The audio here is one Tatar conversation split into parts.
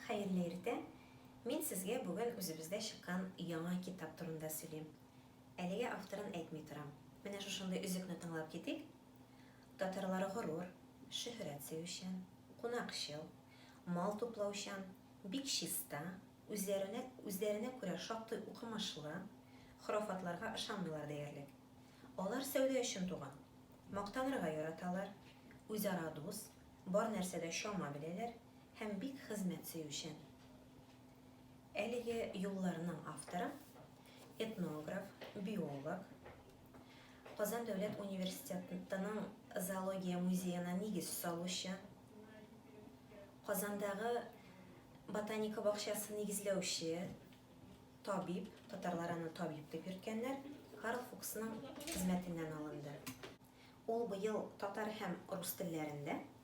Хәерле иртә! Мин сезгә бүген үзебездә чыккан яңа китап турында сөйлим. Әлегә авторын әйтми торам. Менә шушындый өзекне тыңлап китик. Татарлар горур, шөһрәт сөючән, кунакчыл, мал туплаучан, бик чиста, үзләренә үзләренә күрә шактый укымышлы, хорафатларга ышанмыйлар диярлек. Алар сәүдә өчен туган. Мактанырга яраталар, үзара дус, бар нәрсәдә чама беләләр, һәм бик хезмәт сөючән. Әлеге юлларның авторы, этнограф, биолог, Казан дәүләт университетының зоология музеена нигез салучы, Казандагы Ботаника бакчасын нигезләүче, табиб, татарлар аны табиб дип йөрткәннәр, Карл Фуксның хезмәтеннән алынды. Ул быел татар һәм рус телләрендә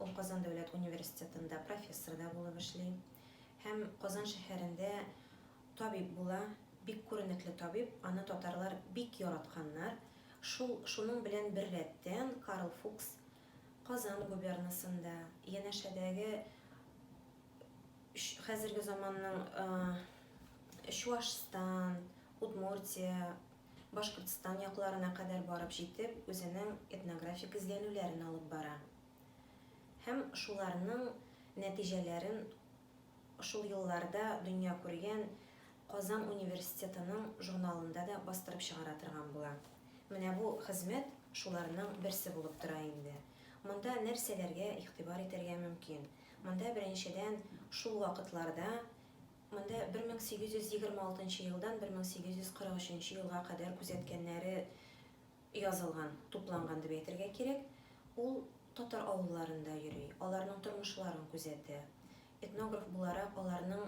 Ул Казан дәүләт университетында профессор да булып эшли һәм Казан шәһәрендә табиб була, бик күренекле табиб, аны татарлар бик яратканнар. Шул, шуның белән беррәттән Карл Фукс Казан губернасында, янәшәдәге хәзерге заманның Чуашстан, Удмуртия Башкортстан якларына кадәр барып җитеп, үзенең этнографик эзләнүләрен алып бара һәм шуларның нәтиҗәләрен шул елларда дөнья күргән Казан университетының журналында да бастырып чыгара торган була. Менә бу хезмәт шуларның берсе булып тора инде. Монда нәрсәләргә игътибар итәргә мөмкин? Монда беренчедән шул вакытларда, Монда 1826 елдан 1843 елга кадәр күзәткәннәре язылган, тупланган дип әйтергә кирәк. Ул татар авылларында йөри, аларның тормышларын күзәтә. Этнограф буларак, аларның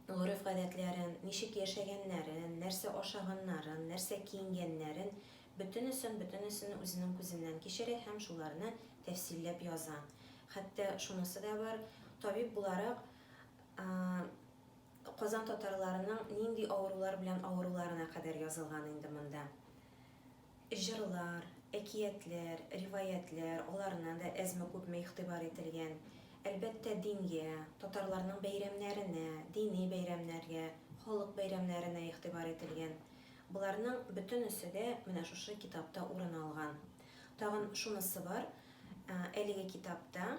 гореф-гадәтләрен, ничек яшәгәннәрен, нәрсә ашаганнарын, нәрсә киенгәннәрен, бөтенесен, бөтенесен үзенең күзеннән кичерә һәм шуларны тәфсилләп яза. Хәтта шунысы да бар, табиб буларак, Казан татарларының нинди авырулар белән авыруларына кадәр язылган инде монда. Җырлар, әкиятләр, риваятьләр, аларына да әзме-күпме игътибар ителгән. Әлбәттә, дингә, татарларның бәйрәмнәренә, дини бәйрәмнәргә, халык бәйрәмнәренә игътибар ителгән. Боларның бөтенесе дә менә шушы китапта урын алган. Тагын шунысы бар, әлеге китапта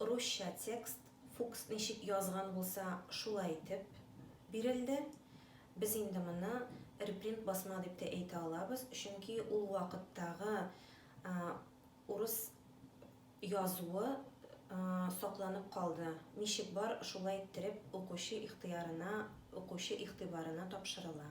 Русча текст, Фукс ничек язган булса, шулай итеп бирелде. Без инде моны репринт басма дип тә әйтә алабыз, чөнки ул вакыттагы урыс язуы сакланып калды, ничек бар, шулай иттереп укучы ихтыярына, укучы игътибарына тапшырыла.